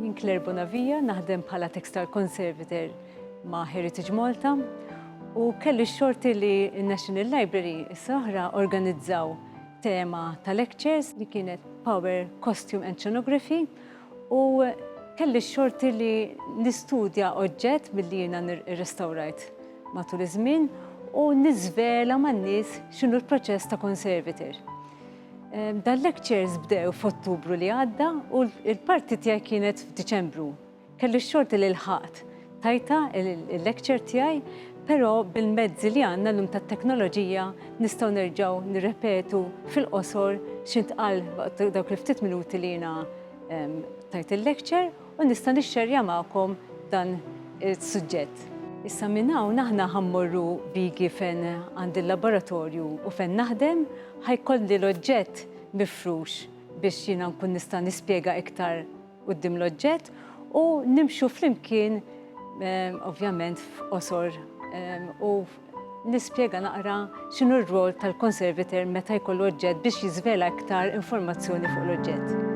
Jien Claire Bonavija naħdem bħala textile conservator ma' Heritage Malta u kelli xorti li National Library s-soħra organizzaw tema ta' lectures li kienet Power Costume and Scenography U kelli x-xorti li nistudja oġġett milli jiena rrestawrajt matul iż-żmien u niżvela man-nies x'inhu l-proċess ta' conservator. Dan lectures bdew f'Ottubru li għadda u l-parti tiegħi kienet f'Diċembru. Kelli x-xorti li lħaqt Tajtha il-lecture tiegħi, però bil-mezzi li għandna llum tat-teknoloġija nistgħu nerġgħu nirrepetu fil-qosor x'intqal waqt dawk il-ftit minuti li jiena tajt il-lecture u nista' nixxerja magħkom dan is-suġġett. Issa minn hawn aħna ħa mmorru bigi fejn għandi l-laboratorju u fejn naħdem, ħa jkolli l-oġġett mifrux biex jiena nkun nista' nispjega iktar quddiem l-oġġett u nimxu flimkien ovvjament f'qosor u nispjega naqra x'inhu r-rwol tal-conservator meta jkollu oġġett biex jiżvela iktar informazzjoni fuq l-oġġett.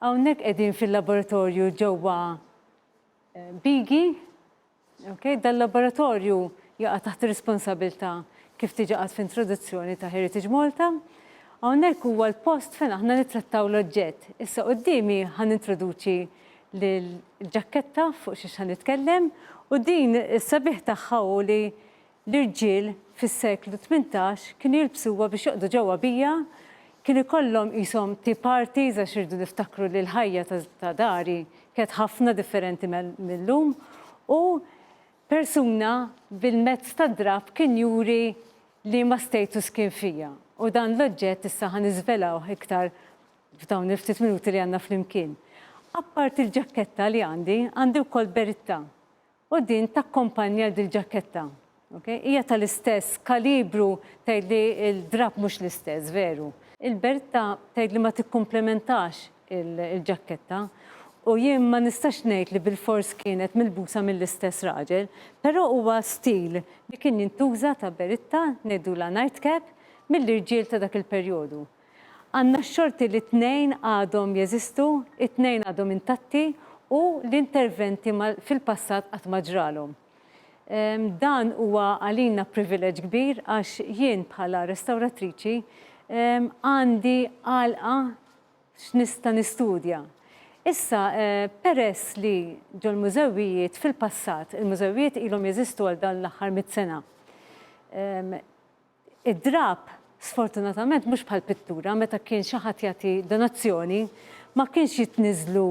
Hawnhekk qegħdin fil-laboratorju ġewwa Bigi. Ok, dal-laboratorju jaqa' taħt ir-responsabilità kif diġà qatt f'introduzzjoni ta' Heritage Malta. Hawnhekk huwa l-post fejn aħna nittrattaw l-oġġett. Issa quddiemi ħa nintroduċi l-ġakketta fuq xiex ħa nitkellem u din is-sabiħ tagħha hu li L-irġiel fis-seklu tmintax kienu jilbsuha biex joqgħdu ġewwa bija, kien ikollhom qishom tea parties għax irridu niftakru li l-ħajja ta' dari kienet ħafna differenti mil-lum u persuna bil-mezz tad-drapp kien juri liema status kien fija u dan l-oġġett issa ħa niżvelawh iktar f'dawn il-ftit minuti li għandna flimkien. Apparti l-ġakketta li għandi, għandi wkoll beritta U din takkompanja dil-ġaketta. Ok? Hija tal-istess kalibru tgħid li l-drapp mhux l-istess, veru. Il-beretta tgħid li ma tikkumplementax il-ġaketta u jien ma nistax ngħid li bilfors kienet milbusa mill-istess raġel, però huwa stil li kien jintuża ta' beritta, ngħidulha nightcap, mill-irġiel ta' dak il-perjodu. Għandna x-xorti li t-tnejn għadhom jeżistu, it-tnejn għadhom intatti u l-interventi fil-passat qatt ma ġralhom. Dan huwa għalina privileġġ kbir għax jien bħala restawratriċi għandi għalqa x'nista' nistudja. Issa, peress li ġo l-mużewijiet fil-passat, il-mużewijiet ilhom jeżistu għal dawn l-aħħar mitt sena, Id-drapp, sfortunatament mhux bħall-pittura, meta kien xi ħadd jagħti donazzjoni, ma kienx jitniżżlu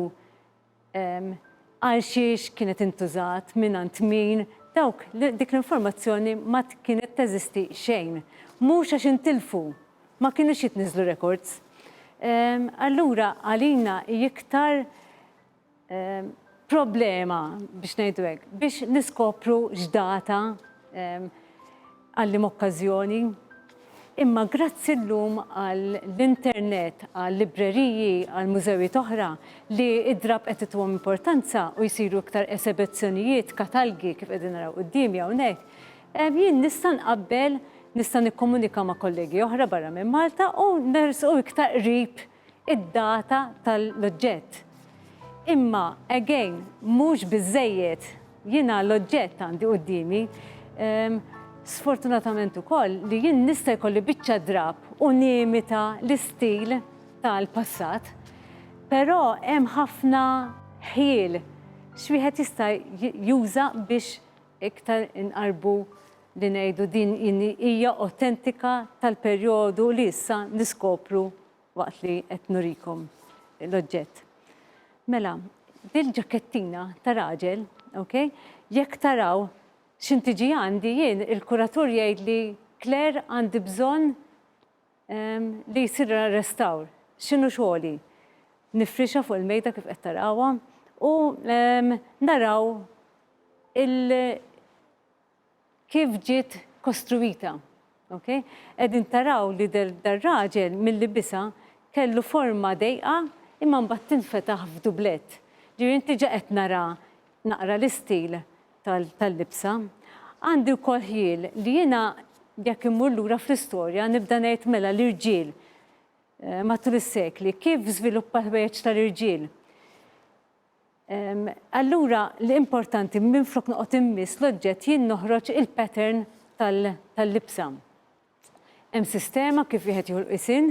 għal xiex kienet intużat, mingħand min, dawk dik l-informazzjoni ma kienet teżisti xejn. Mhux għax intilfu, ma kinux jitniżżlu rekords. Allura għalina hi iktar problema biex ngħidu hekk biex niskopru x'data għallim okkażjoni. Imma grazzi llum għall-internet, għal-libreriji, għal-mużewijiet oħra li id-drab qed ituhom importanza u jsiru iktar esebezzjonijiet, katalgi kif qegħdin naraw quddiemi hawnhekk, jien nista' nqabbel, nista' nikkomunika ma' kollegi oħra barra minn Malta u nersqu iktar qrib id-data tal-oġġett. Imma, again, mhux biżżejjed. Jiena l-oġġett għandi quddiemi. Sfortunatament ukoll li jien nista' jkolli biċċa drapp u nimita l-istil tal-passat, però hemm ħafna ħjiel x'wieħed jista' juża biex iktar inqarrbu li ngħidu din hija awtentika tal-perjodu li issa niskopru waqt li qed nurikom l-oġġett. Mela, dil-ġakettina ta' raġel, ok, jekk taraw x'in tiġi għandi jien il-kuratur jgħidli Claire għandi bżonn ehm, li jsir restawr. X'inhu xogħli? Nifrixha fuq il-mejda kif qed tarawha u ehm, naraw il- kif ġiet kostruwita. Ok? Qegħdin taraw li dar-raġel milli bisa kellu forma dejqa imma mbagħad tinfetaħ f'dublett. Ġifieri inti ġa qed nara naqra l-istil tal-libsa. Għandi wkoll ħjiel li jiena jekk immur lura fl-istorja nibda ngħid mela l-irġiel matul is-sekli kif żviluppa l-ħwejjeġ tal-irġiel. Allura li importanti minflok noqgħod immiss l-oġġett jien noħroġ il-pattern tal-libsa. Hemm sistema kif wieħed jieħu l-qisien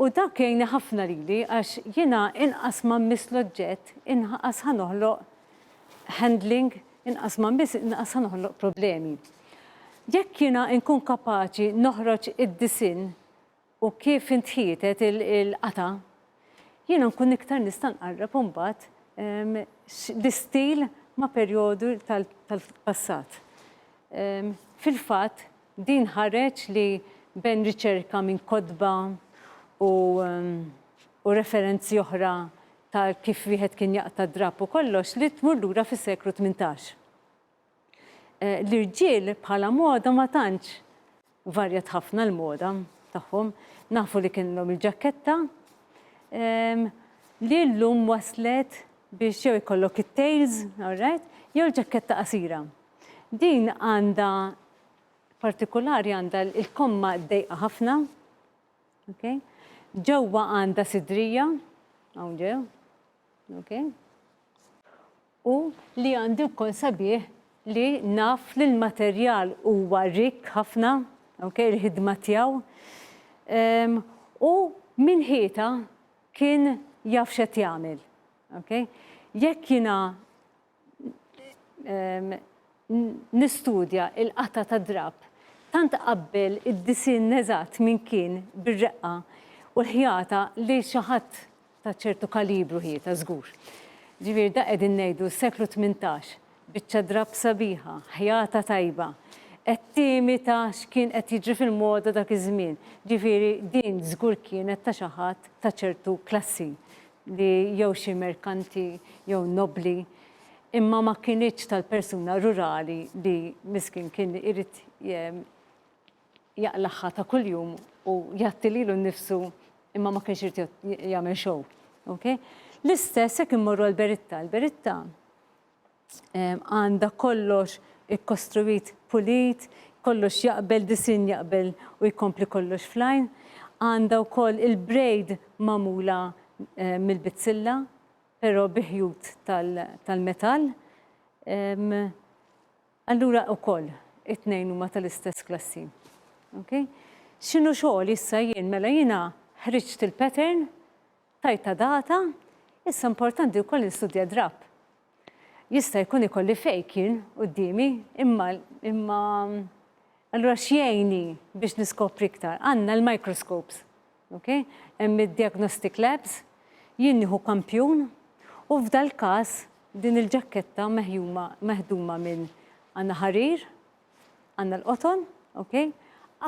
u dak jgħinni ħafna lili għax jiena inqas ma mmiss l-oġġett inqas ħa noħloq handling, inqas ma mmiss inqas ħa noħloq problemi. Jekk jiena nkun kapaċi noħroġ id-disinn u kif intħietet il-qatgħa, jiena nkun iktar nista' nqarreb imbagħad l-istil ma' perjodu tal-passat. Fil-fatt, din ħareġ li ben riċerka minn kotba u u referenzi oħra ta' kif wieħed kien jaqta' d-drapp u kollox li tmur lura fis-seklu tmintax. L-irġiel bħala moda ma tantx varjat ħafna l-moda tagħhom. Nafu li kienlhom il-ġakketta li llum waslet biex jew ikollok it-tails, alright, jew ġakketta qasira. Din għandha partikulari għandha il-komma dejqa ħafna, okay? Ġewwa għandha sidrija, hawn ġew, okay? u li għandi wkoll sabiħ li naf li l-materjal huwa rikk ħafna, okay, il-ħidma tiegħu. Um, u minn ħieta kien jaf x'qed jagħmel. Okay? Jekk jiena um, nistudja il-qata ta' drab, tant qabbel id-disin eżatt minn kien bir-reqqa u l-ħjata li xi ħadd ta' ċertu kalibru hi ta' żgur. Ġifieri da qegħdin ngħidu s-seklu tmintax, biċċa drapp sabiħa, ħjata tajba, qed tiemi ta' x'kien qed jiġri fil-moda dak iż-żmien. Ġifieri din żgur kienet ta' xi ħadd ta' ċertu klassi li jew xi merkanti jew nobbli imma ma kinitx tal-persuna rurali li miskin kien irid jaqlagħha ta' kuljum u jgħatti lilu nnifsu imma ma kienx irid jagħmel show. Okay? L-istess jekk immorru għal Beritta. Il-Beritta għandha kollox ikkostruit pulit, kollox jaqbel, disin jaqbel u jkompli kollox flajn. Għandha wkoll il-brejd magħmula eh, mill-bizzilla, però biħjut tal-metall. Tal Allura ukoll it-tnejn huma tal-istess klassi. Okay? X'inhu xogħli issa jien mela jiena ħriġt il-pattern, tajtha data, issa importanti wkoll nistudja drapp. Jista' jkun ikolli fake jien quddiemi, imma imma allura x'jgħinni biex niskopri iktar? Għandna l-microscopes. Okej, hemm id-diagnostic labs, jien nieħu kampjun u f'dal-każ din il-ġakketta meħjuma, meħduma minn għandna ħarir, għandna l-qoton, okej,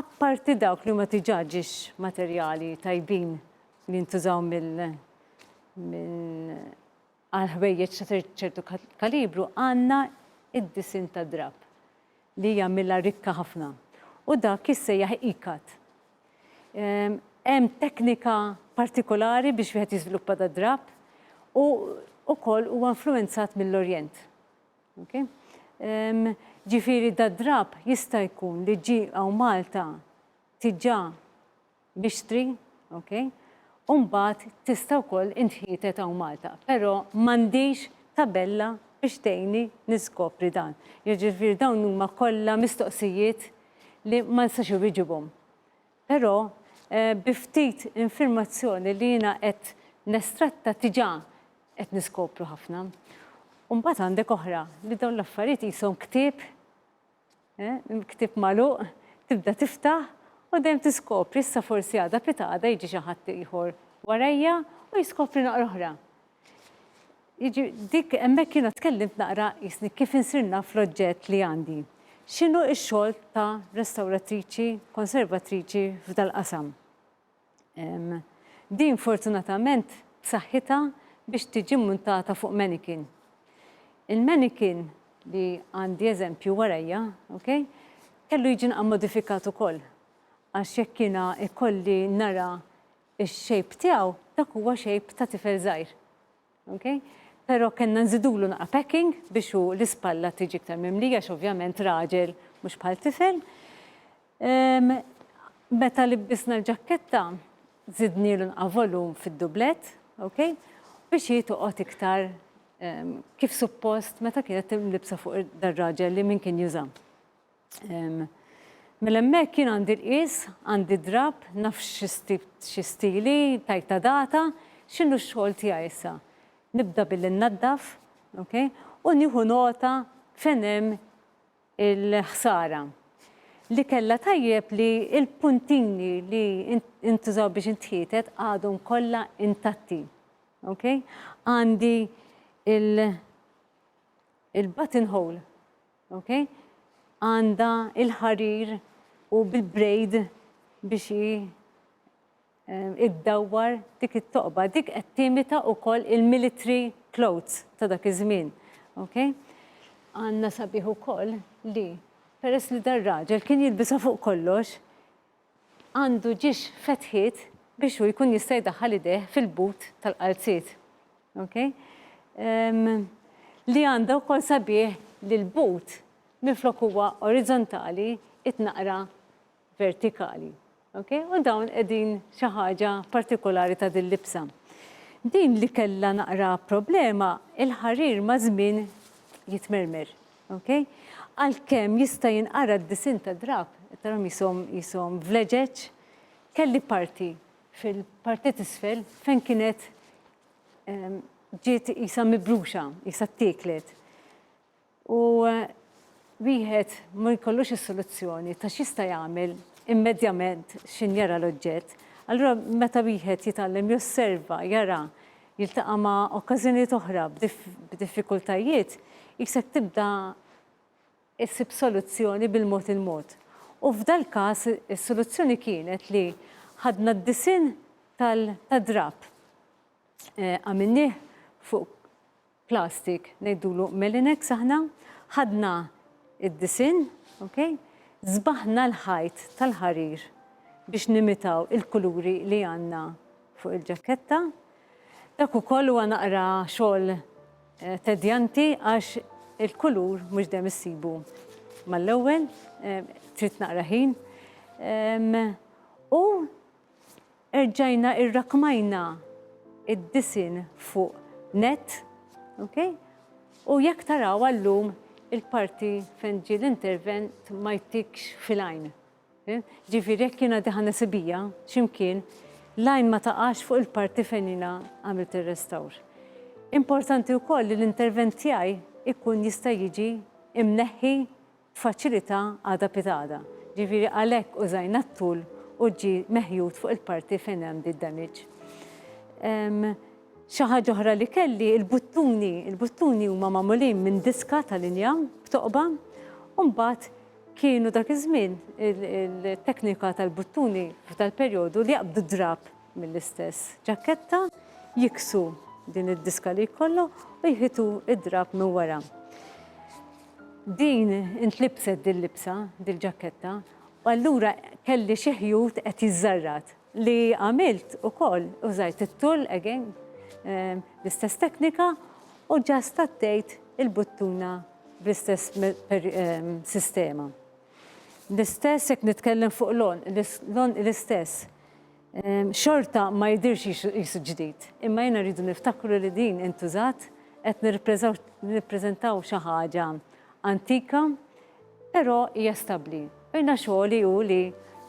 apparti dawk li huma diġà ġiex materjali tajbin li jintużaw mill, minn, Għal ħwejjeġ ta' ċertu kalibru għandna d-disinn tad-drapp li jagħmilha rikka ħafna u dak jissejjaħ E-cut. Hemm teknika partikolari biex wieħed jiżviluppa dad-drapp u wkoll huwa influwenzat mill-Orjent. Ġifieri dad-drapp jista' jkun li ġie hawn Malta diġà mixtri, ok, u mbagħad tista' wkoll intħietet hawn Malta, però m'għandix tabella biex tgħinni niskopri dan. Jiġifieri dawn huma kollha mistoqsijiet li ma nistax iwieġibhom. Però bi ftit infirmazzjoni li jiena qed nestratta tiġà qed niskopru ħafna. U mbagħad għandek oħra li dawn l-affarijiet qishom ktieb Ktieb magħluq, tibda tiftaħ u dejjem tiskopri issa forsi għada pitgħada jiġi xi ħadd ieħor warajja u jiskopri naqra oħra. Jiġi dik hemmhekk jiena tkellimt naqra jisni kif insir naf l-oġġett li għandi. X'inhu x-xogħol ta' restawratriċi, konservatriċi f'dal-qasam? Din fortunatament b'saħħitha biex tiġi mmuntata fuq mannequin. Il-mannequin li għandi eżempju warajja, ok, kellu jiġi naqra modifikat ukoll għax jekk jiena jkolli nara x-shape tiegħu, dak huwa shape ta' tifel żgħir. Ok. Pero kellna nżidulu naqa' packing biex hu l-ispalla tiġi iktar mimlija għax ovvjament raġel mhux bħal tifel. Ehm, meta libbisna l-ġakketta, żidnielu naqa' volum fid-dublett, ok, biex hi toqgħod iktar ehm, kif suppost meta kienet timlibsa fuq dar-raġel li min kien juża. Mela hemmhekk jien għandi l-qies, għandi d-drapp, naf xi stili, tajtha data, x'inhu x-xogħol tiegħi issa? Nibda billi nnaddaf, ok, u nieħu nota fejn hemm il-ħsara. Li kellha tajjeb li l-puntini li intużaw biex intħietet għadhom kollha intatti. Ok? Għandi il-button hole Ok? Għandha il-ħarir u bil-brejd biex hi iddawwar dik it-toqba. Dik qed timita wkoll il-military clothes ta' dak iż-żmien. Ok? Għandna sabiħ ukoll li peress li dar-raġel kien jilbisha fuq kollox, għandu ġiex fetħiet biex hu jkun jista' jdaħħal idejh fil-but tal-qalziet. Ok? Um, li għandha wkoll sabiħ li l-but minflok huwa orizzontali itnaqra vertikali. Ok? U dawn qegħdin xi ħaġa partikolari ta' din libsa. Din li kellha naqra problema, il-ħarir ma' żmien jitmermer. Ok? Għalkemm jista' jinqara d-disinn tad-drapp, tarhom jisom jisom vleġeġ, kelli parti fil-parti t'isfel fejn kienet ehm, ġiet jisa mibruxa, jisa t-tieklet. U eh, wieħed ma jkollux is-soluzzjoni ta' x'jista' jagħmel immedjament x'in jara l-oġġett. Allura meta wieħed jitgħallem josserva, jara jiltaqa' ma' okkażjonijiet oħra b'diffikultajiet, hi se tibda ssib soluzzjoni bil-mod il-mod. U f'dal-każ is-soluzzjoni kienet li ħadna d-disinn tad-drapp, għamilnieh fuq plastik, ngħidulu melinex aħna, ħadna d-disinn, ok, sbaħna l-ħajt tal-ħarir biex nimitaw il-kuluri li għandna fuq il-ġakketta. Dak ukoll huwa naqra xogħol tedjanti għax il-kulur mhux dejjem issibu mal-ewwel, trid naqra ħin. U Erġajna irrakkmajna id-disinn fuq net, ok? U jekk taraw għallum il-parti fejn ġie l-intervent ma jtikx fil-għajn. Ġifieri jekk jiena diħa nisibija x'imkien, l-għajn ma taqax fuq il-parti fejn jiena għamilt ir-restawr. Importanti wkoll li l-intervent tiegħi jkun jista' jiġi mneħħi faċilità għada pitgħada, ġifieri għalhekk użajna t-tool u ġie meħjut fuq il-parti fejn hemm di damage. Xi ħaġa oħra li kelli, il-buttuni, il-buttuni huma magħmulin minn diska ta' linja b'toqba u mbagħad kienu dak iż-żmien il-teknika tal-buttuni tal-perjodu li jaqbdu d-drab mill-istess ġaketta, jiksu din id-diska li jkollhom u jħitu d-drab minn wara. Din intlibset dil-libsa, dil-ġakketta, u allura kelli xi ħjut qed jiżżarrad. Li għamilt ukoll, użajt it-tull again, l-istess teknika, u ġa stattejt il-buttuna bl-istess sistema. L-istess jekk nitkellem fuq l-għonq, l-istess. Xorta ma jidhirx qisu ġdid, imma jiena rridu niftakru li din intużat, qed nirrappreżentaw xi ħaġa antika, però hija stabbli. Jiena xogħli hu li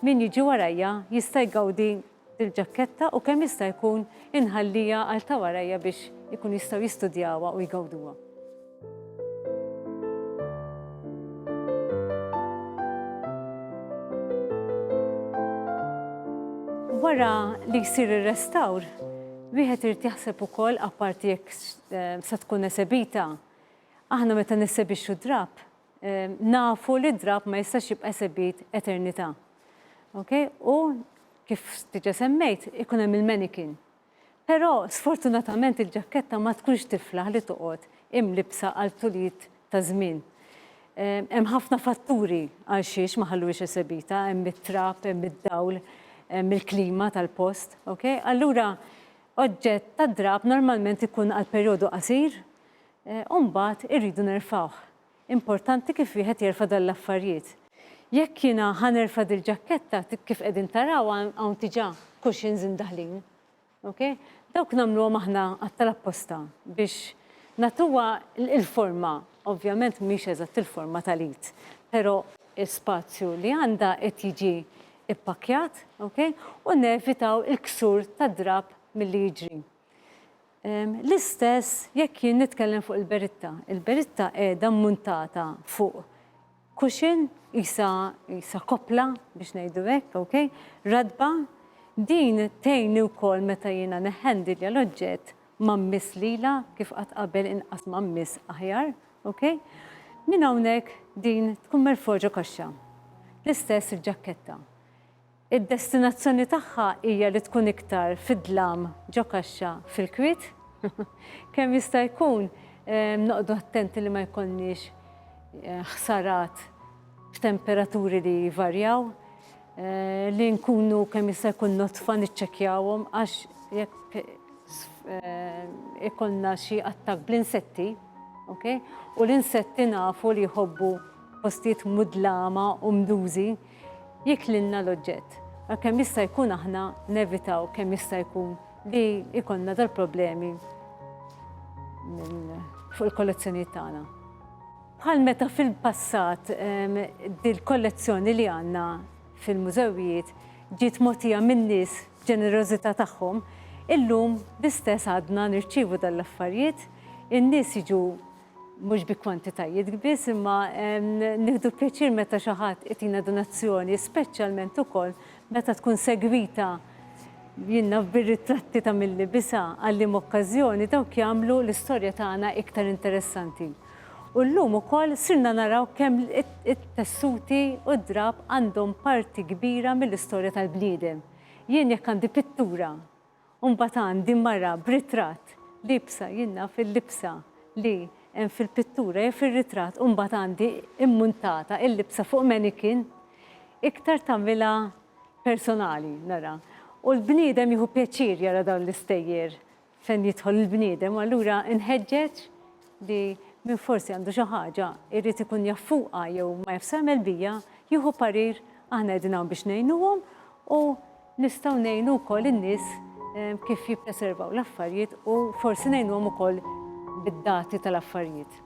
min jiġi warajja jista' jgawdi dil-ġakketta u kemm jista' jkun inħalliha għal ta' warajja biex ikunu jistgħu jistudjawha u jgawduha. Wara li jsir ir-restawr, wieħed irid jaħseb ukoll apparti jekk eh, se tkun esebita. Aħna meta nissebixxu drab, eh, nafu li drab ma jistax jibqa' esebit eternità. Okay? U kif tiġa semmejt, ikun hemm il-manikin. Però sfortunatament il-ġakketta ma tkunx tiflaħ li toqgħod imlibbsa għal tuliet ta' żmien. Hemm ħafna fatturi għal xiex ma ħalluhiex esebita, hemm it-trab, hemm id-dawl, hemm il-klima tal-post. Ok? Allura oġġett tad-drab normalment ikun għal perjodu qasir u mbagħad irridu nerfgħuh. Importanti kif wieħed jerfa' dan l-affarjiet. Jekk jiena ħa nerfa' dil-ġakketta kif qegħdin taraw hawn diġà cushions imdaħħlin. Ok? Dawk nagħmluhom aħna għad tal-apposta biex nagħtuha l-forma, ovvjament mhix eżatt il-forma tal-id, però, l-ispazju li għandha qed jiġi ppakkjat, ok, u nevitaw il-ksur tad-drapp milli jiġri. L-istess jekk jien nitkellem fuq il-beritta. Il-beritta qiegħda mmuntata fuq cushion, qisha qisha koppla biex ngħidu hekk, ok, ratba. Din tgħinni wkoll meta jiena neħħendilja l-oġġett ma mmiss lilha kif qatt qabel inqas ma mmiss aħjar, ok. Minn hawnhekk din tkun merfugħa ġo kaxxa. L-istess il-ġakketta. Id-destinazzjoni tagħha hija li tkun iktar fid-dlam ġo kaxxa fil-kwiet. Kemm jista' jkun noqgħdu attenti li ma jkollniex ħsarat f'temperaturi li jvarjaw, li nkunu kemm jista' jkun nodfa niċċekkjawhom għax jekk ikollna xi attakk bl-insetti, ok, u l-insetti nafu li jħobbu postijiet mudlama u mdużi, jiklilna l-oġġett. Għal kemm jista' jkun aħna nevitaw kemm jista' jkun li jkollna dal-problemi fuq il-kollezzjonijiet tagħna. Bħal meta fil-passat dil-kollezzjoni li għandna fil-mużewijiet ġiet mogħtija minn nies ġenerożità tagħhom, illum l-istess għadna nirċievu dan l-affarijiet, in-nies jiġu mhux bi kwantitajiet biss imma nieħdu pjaċir meta xi ħadd itina donazzjoni, speċjalment ukoll meta tkun segwita jien naf bir-ritratti ta' milli bisa għallim okkażjoni dawk jagħmlu l-istorja tagħna iktar interessanti. U llum ukoll sirna naraw kemm it-tessuti u d-drab għandhom parti kbira mill-istorja tal-bniedem. Jien jekk għandi pittura U mbagħad għandi mara b'ritratt liebsa jien naf il-libsa li hemm fil-pittura jew fir-ritratt u mbagħad għandi immuntata il-libsa fuq mannequin iktar tagħmilha personali nara. U l-bniedem jieħu pjaċir jara dawn l-istejjer fejn jidħol il-bniedem u allura nħeġġeġ li min forsi għandu xi ħaġa jrid ikun jaf fuqha jew ma jafx x'għamel biha jieħu parir aħna qegħdin hawn biex ngħinuhom u Nistgħu ngħinu wkoll in-nies kif jippreservaw l-affarijiet u forsi ngħinuhom ukoll bid-dati tal-affarijiet.